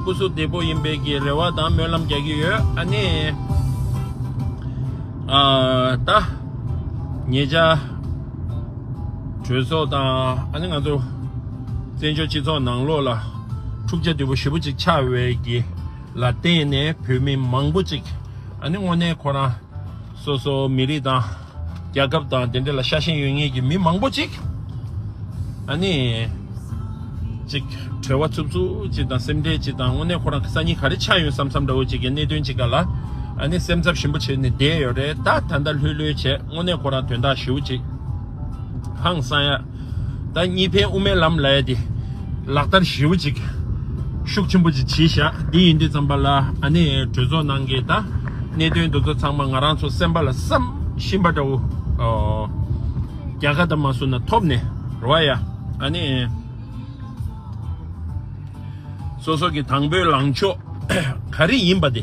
སྐུ་གཟུགས་བདེ་པོ་ཡིན་པའི་གི་རེ་བ་དང་སྨོན་ལམ་རྒྱག་གི་ཡོད་ཨ་ནི། ད་ངེད་ཅག་གྲོས་ཚོགས་དང་ཨ་ནི་ང་ཚོ་བཙན་བྱོལ་སྤྱི་ཚོགས་ནང་ལོགས་ལ་འཁྲུག་ཆ་དོད་པོ་ཞེ་པོ་ཅིག་ཆགས་བས་གི་ལ་བརྟེན་ནས་བོད་མི་མང་པོ་ཅིག་ཨ་ནི་དངོས་གནས་ཁོ་རང་སོ་སོ་མི་རིགས་དང། རྒྱལ་ཁབ་དང་དེ་འདྲ་ལ་ཤ་ཞེན་ཡོད་ངེས་ཀྱི་མི་མང་པོ་ཅིག་ཨ་ནི་ཅིག་གྲོལ་བ་ཚུབ་ཚུབ་ཅིག་དང་སེམས་ཁྲལ་ཅིག་དང་དངོས་གནས་ཁོ་རང་གི་སང་ཉིན་ག་རེ་ཆགས་ཡོང་བསམ་བསམ་འདྲ་བོ་ཅིག་གི་གནད་དོན་ཅིག་ག་ལ་ཨ་ནི་སེམས་འཚབ་ཞིམ་པོ་བྱེད་ནས་བསྡད་ཡོད་རེད་ད་ད་ལྟ་ལྷོད་ལྷོད་བྱས་དངོས་གནས་ཁོ་རང་དོན་དག་ཞུ་ཅིག་ཧང་སང་ཡ། ཟླ་གཉིས་པའི་དབུ་མའི་ལམ་ལས་དེ་ལག་བསྟར་ཞེའུ་ཅིག་ཤུགས་ཆེན་པོ་ཅིག་བྱས་བཞག་འདི་ཡིན་དུས་བརྩམས་པ་ལ་ཨ་ནེ་གྲོས་ཚོགས་ནང་གི་ད་གནད་དོན་འདུག་ཚོ་ཚང་མ་ང་རང་ཚོ་སེམས་པ་ལ་བསམ་བཞིན་པ་འདྲ་བོ་རྒྱ་གར་དང་མ་སུ་ན་ཐོབ་ནས་རོ་ཨ་ཡ་ཨ་ནེ་སོ་སོ་གི་དང་པོའི་ལངས་ཕྱོགས་ག་རེ་ཡིན་པ་དེ།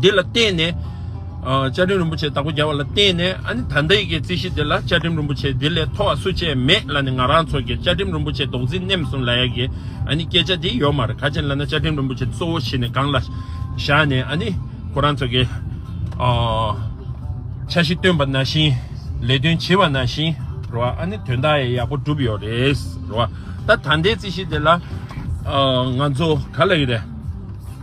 དེ་ལ་བརྟེན་ནས། བཅའ་ཁྲིམས་རིན་པོ་ཆེ་དང་པོ་བརྒྱབ་པ་ལ་བརྟེན་ནས་ཨ་ནི་ད་ལྟ་ཡི་གེའི་རྩིས་གཞི་འདི་ལ་བཅའ་ཁྲིམས་རིན་པོ་ཆེ་འདི་ལས་མཐོ་བ་སུ་ཆེས་མེད་ལ་ནི་ང་རང་ཚོ་གིས་བཅའ་ཁྲིམས་རིན་པོ་ཆེ་རྡོག་རྫིས་མནེམ་སོང་ལ་ཡ་གི་ཨ་ནི་སྐད་ཆ་དེ་ཡོད་མ་རེད་ག་ཅན་ལ་ན་བཅའ་ཁྲིམས་རིན་པོ་ཆེ་གཙོ་བོ་ཞིག་ནི་སྒང་ལ་བཞག་ནས་ཨ་ནི་ཁོ་རང་ཚོ་གིས་འཆར་གཞི་བཏོན་པ་ན་བཞིན་ལས་དོན་བྱེད་པ་ན་བཞིན་རེད་བ་ཨ་ནི་དོན་དག་ཡ་ཡག་པོ་སྒྲུབ་ཡོད་རེད་བ་ད་ད་ལྟའི་རྩིས་གཞི་འདི་ལ་ང་ཚོ་ག་ལ་ཡི་རེད།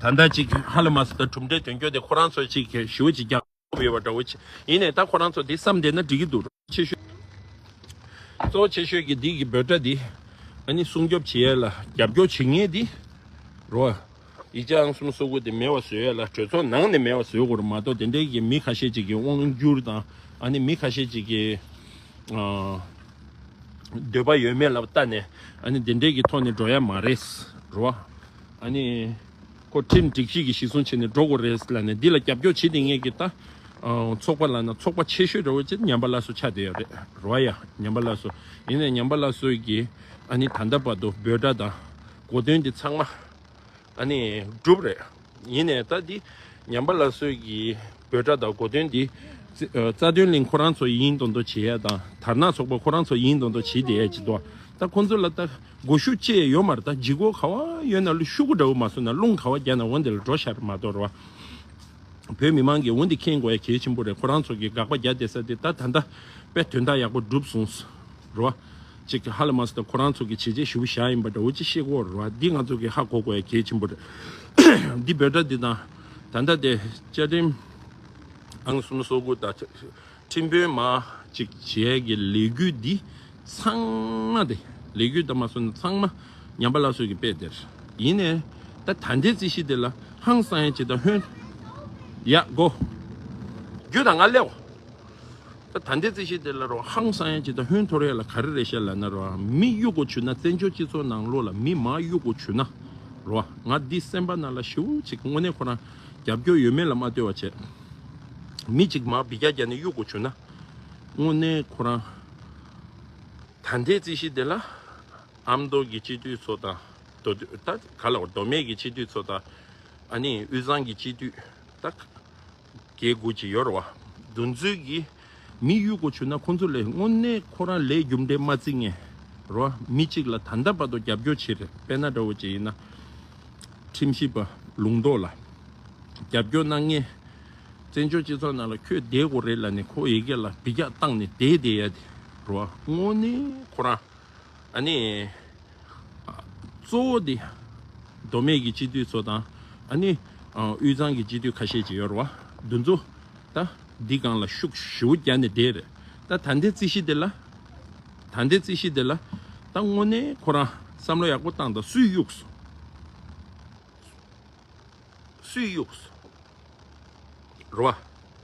ད་ལྟ་གཅིག་ཧ་ལ་མ་སི་ཏ་གྲུབ་འབྲས་དོན་འཁྱོལ་དེ་ཁོ་རང་ཚོས་ཅིག་གིས་ཞུ་ཅིག་རྒྱག་ཐུབ་ཡོད་པ་འདྲ་བོ་ཡིན་ནས་ད་ཁོ་རང་ཚོ་དེ་བསམ་བསྡད་ན་འགྲིག་གི་འདུག་གཙོ་བོ་ཆེ་ཤོས་གཙོ་བོ་ཆེ་ཤོས་ཀྱི་འདི་གི་འབོད་སྒྲ་འདི་ཨ་ནི་སྲུང་སྐྱོབ་བྱེད་ཡས་ལ་རྒྱབ་སྐྱོར་བྱེད་ངེས་དེ་རོ་ཡི་ཅང་གསུམ་སོ་དགུ་དེ་མེད་བ་བཟོས་ཡས་ལ་གྲོས་ཚོགས་ནང་ནས་མེད་བ་བཟོས་དགོས་ར་མ་གཏོགས་དེ་འདྲའི་གི་མི་ཁ་ཤས་ཅིག་གི་དབང་བསྒྱུར་དང་ཨ་ནི་མི་ཁ་ཤས་ཅིག་གི་ཨ། འདོད་པ་ཡོད་མེད་ལ་བལྟ་ནས་ཨ་ནི་དེ་འདྲའི་གི་ཐོག་ནས་འགྲོ་ཡས་མ་རེད་རོ། ཨ་ནི། ཁོ་ཁྲིམས་སྒྲིག་གཅིག་གིས་གཞི་བཟུང་བྱས་ནས་འགྲོ་དགོས་རེད་ལ་ནི་འདི་ལ་རྒྱབ་སྐྱོར་བྱེད་དེ་ངེས་ཀྱི་ད། ཚོགས་པ་ལ་ན་ཚོགས་པ་ཆེ་ཤོས་རེད་བ་ཅེས་ཉམས་པ་ལ་སོ་ཆགས་བསྡད་ཡོད་རེད་རོ་ཡ། ཉམས་པ་ལ་སོ་ཡིན་ནས་ཉམས་པ་ལ་སོས་ཀྱིས་ཨ་ནི་ད་ལྟ་བར་དུ་འབོད་སྒྲ་དང་གོ་དོན་འདི་ཚང་མ་ཨ་ནི་སྒྲུབ་རེད་ཡིན་ནས་ད་འདི་ཉམས་པ་ལ་སོས་ཀྱིས་འབོད་སྒྲ་དང་གོ་དོན་འདི་རྩ་དོན་གླིང་ཁོ་རང་ཚོ་ཡིན་མདོག་མདོག་བྱེད་ཡ་དང་དར་ནག་ཚོགས་པ་ཁོ་རང་ཚོ་ཡིན་མདོག་མདོག་བྱེད་བསྡད་ཡ་ཅེས་དོ་ད་ཁོང་ཚོ་ལ་ད། སྒོ་ཤུགས་བཅས་ཡོད་མ་རེད་ད་འཇིགས་སྒོ་ག་བ་ཡོད་ན་ལུས་ཤུགས་སྒོ་འདྲ་བོ་མ་བཟོ་ན་རླུང་ག་བ་རྒྱག་ན་འོན་དེ་ལ་འགྲོ་ཤར་མ་དོར་བ། བོད་མི་མང་གིས་འོན་དེ་མཁྱེན་དགོས་ཡ་གལ་ཆེན་པོ་རེད་ཁོ་རང་ཚོ་གིས་དགག་པ་རྒྱག་བསྡད་ས་དེ་ད་ད་ལྟ་བས་དོན་དག་ཡག་པོ་འགྲུབ་སོང་རེད་བ། གཅིག་གིས་ཧ་ལས་མ་བཟོ་ད་ཁོ་རང་ཚོ་གིས་བྱས་རྗེས་ཞུ་བོ་ཞག་ཡིན་པ་འདྲ་བོ་ཅིག་ཤེས་དགོས་རེད་བ་འདི་ང་ཚོ་གིས་ཧ་གོ་དགོས་ཡ་གལ་ཆེན་པོ་རེད། འདི་འབོད་སྒྲ་འདི་དང་ད་ལྟ་དེ་བཅའ་ཁྲིམས། ཨང་གསུམ་སོ་དགུ་དང། ཁྲིམས་དཔོན་མ་གཅིག་བྱས་ཀྱི་ལས་འགུལ་འདི་ཚང་མ་སྟེ། ལས་འགུལ་དང་མ་སོན་ཚང་མ་ཉམས་པ་སླར་གསོས་ཀྱི་དཔེ་དེར་ཡིན་ནས། ད་ད་ལྟའི་རྩིས་གཞི་དེ་ལ་ཧང་སང་ཡང་བྱེད་ད་ཧོན། ཡག་གོ། རྒྱུ་དང་ང་ལེའོ། ད་ད་ལྟའི་རྩིས་གཞི་དེ་ལ་རོ་ཧང་སང་ཡང་བྱེད་ད་ཧོན་ཐོར་ཡ་ལ་ག་རེ་རེད་བཤད་ལ་ན་རོ་མི་གཡུག་གོ་བྱུ་ན་བཙན་བྱོལ་སྤྱི་ཚོགས་ནང་ལོག་ལ་མི་མ་གཡུག་གོ་བྱུ་ན་རོ་ང་འདི་སེམས་པ་ན་ལ་ཞེའུ་ཅིག་དངོས་གནས་ཁོ་རང་རྒྱབ་སྐྱོར་ཡོད་མེད་ལ་མ་ལྟོས་བ་བྱས། མི་གཅིག་མར་བི་རྒྱ་རྒྱ་ནས་གཡུག་དགོས་བྱུང་ན། དངོས་གནས་ཁོ་རང་ད་ལྟའི་རྩིས་གཞི་དེ་ལ་ཨ་མདོ་གི་སྤྱི་འཐུས་ཚོ་དང་མདོ་སྟོད་ད་ག་ལ་བར་མདོ་སྨད་ཀྱི་སྤྱི་འཐུས་ཚོ་དང་ཨ་ནི་དབུས་གཙང་གི་སྤྱི་འཐུས་ད་ག་གེ་དགུ་ཅི་ཡོད་རེད་བ། འདུ་འཛོལ་གྱི། མི་གཡུལ་སྒོ་ཆུད་ན་ཁོང་ཚོ་ལས་དངོས་གནས་ཁོ་རང་ལས་རྒྱུ་འབྲས་མ་རྩི་ངེས་རོ། མི་གཅིག་ལ་ད་ལྟ་བར་དུ་རྒྱབ་སྐྱོར་བྱེད་རེད་པས་ན་དགྲ་བོ་ཅི་ཡིན་ན་ཁྲིམས་ཞིབ་པ་ལུང་རྟོགས་ལ་རྒྱབ་སྐྱོར་གནང་ངེས། བཙན་བྱོལ་སྤྱི་ཚོགས་ནང་ལ་ཁྱོད་བསྡད་དགོས་རེད་ལ་ནི་ཁོ་ཡི་གེ་ལ་བི་རྒྱག་བཏང་ནས་བསྡད་བསྡད་ཡ་དེ་རོ། དངོས་གནས་ཁོ་རང་ཨ་ནི་གཙོ་བོ་དེ་མདོ་སྨད་ཀྱི་སྤྱི་འཐུས་ཚོ་དང་ཨ་ནི་དབུས་གཙང་གི་སྤྱི་འཐུས་ཁ་ཤས་ཅིག་ཡོད་རེད་བ་འདུ་འཛོ། ད་འདི་གང་ལ་ཤུགས་བཞི་བོ་བརྒྱ་ནས་བཟླས། ད་ད་འདི་རྩི་ཤི་དེ་ལ། ད་འདི་རྩི་ཤི་དེ་ལ། ད་དངོས་གནས་ཁོ་རང་བསམ་བློ་ཡག་པོ་བཏང་དང་སུས་གཡུགས་སོ། སུས་གཡུགས་སོ། རེད་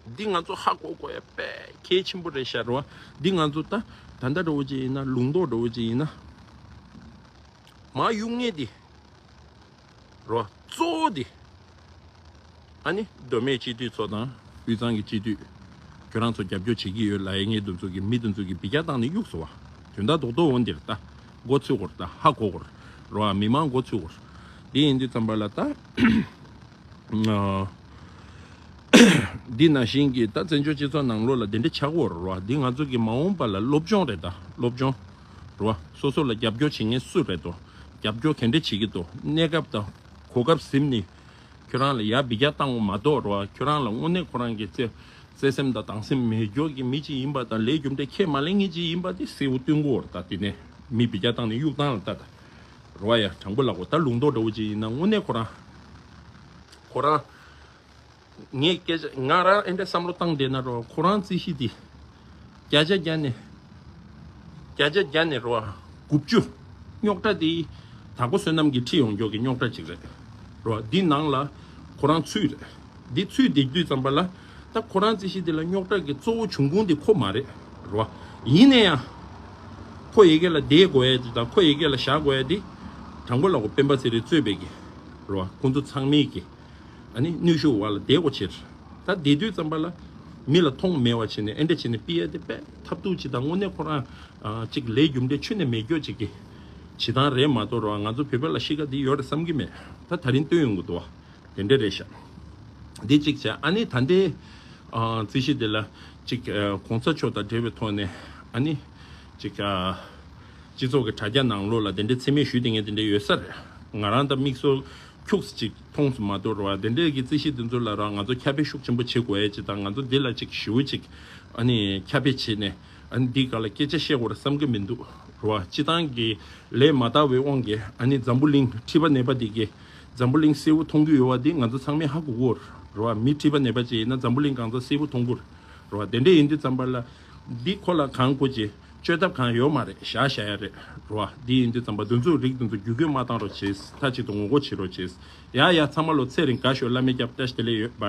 བ། འདི་ང་ཚོ་ཧ་གོ་གོ་ཡ་དཔེ་གལ་ཆེན་པོ་རེད་ཤག་རེད་བ། འདི་ང་ཚོ་ད་ད་ལྟ་འགྲོ་བོ་ཅིག་ཡིན་ན་ལུང་རྟོགས་འགྲོ་བོ་ཅིག་ཡིན་ན། མ་གཡུགས་ངེས་ཏེ། རོ། གཙོ་བོ་དེ། ཨ་ནི་མདོ་སྨད་སྤྱི་འཐུས་ཚོ་དང་དབུས་གཙང་གི་སྤྱི་འཐུས། ཁྱོད་རང་ཚོ་རྒྱབ་སྐྱོར་བྱེད་ཀྱི་ཡོད་ལ་ཨེ་ངེས་འདུ་འཛོ་གི་མི་འདུ་འཛོ་གི་བི་གྱ་བཏང་ནི་གཡུགས་སོ་བ། དོན་དག་རྡོག་རྡོག་འོ་འདིར་ལྟ། འགོ་ཚུད་གོ་ར་ལྟ་ཧ་གོ་གོ་ར། རོ་ཨ་མི་མང་འགོ་ཚུད་གོ་ར། འདི་ཡིན་འདི་ཚམ་པ་ལ་ལྟ། འདི་ན་བཞིན་གྱི་ལྟ་བཙན་བྱོལ་སྤྱི་ཚོགས་ནང་ལོ་ལ་འདི་འདྲ་ཆགས་གོ་ར་རོ་ཨ་འདི་ང་ཚོ་གི་མ་འོངས་པ་ལ་སློབ་སྦྱོང་རེད་ལྟ་སློབ་སྦྱོང། རུ་བ་སོ་སོ་ལ་རྒྱབ་སྐྱོར་བྱེད་མཁན་སུ་རེད་དོ། རྒྱབ་སྐྱོར་ག་འདྲ་བྱེད་ཀྱི་འདུག་གནས་སྐབས་དང་གོ་སྐབས་གཟིམ་ནས་ཁྱོད་རང་ལ་ཡར་འབི་རྒྱག་བཏང་བ་མ་གཏོགས་རུ་བ་ཁྱོད་རང་ལ་དངོས་གནས་ཁོ་རང་གི་བརྩེ་སེམས་དང་སྡང་སེམས་མེད་སྐྱོར་གྱི་མི་ཅིག་ཡིན་པ་དང་ལས་རྒྱུ་འབྲས་ཁས་མ་ལེན་མཁན་ཅིག་ཡིན་པ་དེ་གསལ་བོ་སྟོན་གོ་ད་དེ་ནས་མི་འབི་རྒྱག་བཏང་ནས་གཡུག་བཏང་ལ་ད་རུ་བ་ཡ་དྲང་པོ་ལགས་གོ་ད་ལུང་རྟོགས་འདྲ་བོ་ཅིག་ཡིན་ན་དངོས་གནས་ཁོ་རང་ཁོ་རང། ངས་སྐད་ཆ་ང་རང་ཨེ་འདྲ་བསམ་བློ་བཏང་བསྡད་ན་རོགས་ཁོ་རང་རྩིས་གཞི་འདི་བརྒྱ་ཆ་བརྒྱ་ནས་བརྒྱ་ཆ་བརྒྱ་ནས་རོགས་དགུ་བཅུ་རྙོག་དྲ་འདི་དྭགས་པོ་བསོད་ནམས་ཀྱི་ཁྲིད་ཡོང་མགྱོགས་ཀྱི་རྙོག་དྲ་ཅིག་རེད་རོགས་འདི་ནང་ལ་ཁོ་རང་ཚུད་རེད་འདི་ཚུད་འདེགས་དུས་ཙམ་པ་ལ་ད་ཁོ་རང་རྩིས་གཞི་འདི་ལ་རྙོག་དྲ་གི་གཙོ་བོ་བྱུང་ཁུངས་འདི་ཁོ་མ་རེད་རོགས་ཡིན་ནས་ཡང་ཁོ་ཡི་གེ་ལ་བསྡད་དགོས་ཡ་འདི་དང་ཁོ་ཡི་གེ་ལ་བཞག་དགོས་ཡ་འདི་དྲང་པོ་ལ་གོ་སྤེན་པ་ཚེ་རིང་གཙོས་པའི་གི་རོགས་ཁོང་ཚོ་ཚང་མའི་གི། ནི་ནུས་ཤུགས་བར་ལ་བདེ་བའོ་ཕྱིར། ད་བདེ་དུས་ཙམ་པ་ལ། མི་ལ་ཐོག་མེད་བ་བྱས་ནས་ཨེ་འདྲ་བྱས་ནས་སྤི་ཡ་དེ་པས་ཐབས་སྡུག་ཅི་དང་དངོས་གནས་ཁོ་རང་ཅིག་ལས་རྒྱུ་འབྲས་ཆུ་ནས་མེ་སྐྱོ་ཅིག་གི་བྱེད་སྟངས་རེད་མ་དོར་བ་ང་ཚོ་བོད་པ་ལ་གཤིས་ཀ་འདི་ཡོད་རེད་བསམ་གི་མེད་ད་ད་རིང་སྟོན་ཡོང་གི་འདུག་བ་དེ་འདྲ་རེད་ཤག་འདི་གཅིག་བྱས་ཨ་ནི་ད་ལྟའི་རྩིས་གཞི་འདི་ལ་ཅིག་གོང་ས་མཆོག་དང་འབྲེལ་བའི་ཐོག་ནས་ཨ་ནི་ཅིག་སྤྱི་ཚོགས་ཀྱི་དྲ་རྒྱ་ནང་ལོགས་ལ་དེ་འདྲའི་འཚེ་མེད་ཞུ་དེ་ངས་དེ་འདྲ་ཡོད་ས་རེད་ང་རང་ད་མིག་སོ་ཁྱུགས་སེ་ཅིག་མཐོང་སུ་མ་དོར་བར་དེ་འདྲས་ཀྱི་རྩིས་གཞི་དེ་ཚོ་ལ་རང་ང་ཚོ་ཁྱབ་སྤེལ་ཤུགས་ཆེན་པོ་བྱེད་དགོས་ཡ་ཅིག་དང་ང་ཚོ་འདི་ལ་ཅིག་ཞིའུ་ཅིག་ཁྱབ་སྤེལ་བྱེད་ནས་འདི་ག་ལ་སྐད་ཆ་བཤད་དགོས་ར་བསམ་གི་མི་འདུག་ར་བ་སྤྱི་བཏང་གི་ལས་མ་དར་བའི་དབང་གིས་འཛམ་བུ་གླིང་ཁྲི་པ་ནད་པ་དེ་གིས་འཛམ་བུ་གླིང་སེར་བུ་མཐོང་རྒྱུ་ཡོད་བ་འདི་ང་ཚོ་ཚང་མས་ཧ་གོ་གོ་ར་བ་མི་ཁྲི་པ་ནད་པ་ཅིག་ཡིན་ན་འཛམ་བུ་གླིང་གང་ཚ་སེར་བུ་མཐོང་གོ་ར་བ་དེ་འདྲས་ཡིན་དུས་ཙམ་པར་ལ་འདི་ཁོ་ལ་གང་དགོས་ཅི། བཅོས་ཐབས་གང་ཡོད་མ་རེད་བཞག་བཞག་ཡ་རེད་རོ་ཨ་འདི་ཡིན་འདི་ཙམ་པ་འདི་ཚོའི་རིགས་འདི་ཚོ་རྒྱུད་སྐུད་མ་བཏང་རོགས་བྱེད་མཐའ་གཅིག་ཏུ་ངོ་རྒོལ་བྱེད་རོགས་བྱེད་ཡ་ཡ་ཚང་མ་ལོ་ཚད་རིང་དགའ་ཤོས་བླ་མེད་སྐྱབས་བཀྲ་ཞེ་དེ་ལས་ཡོད་བ།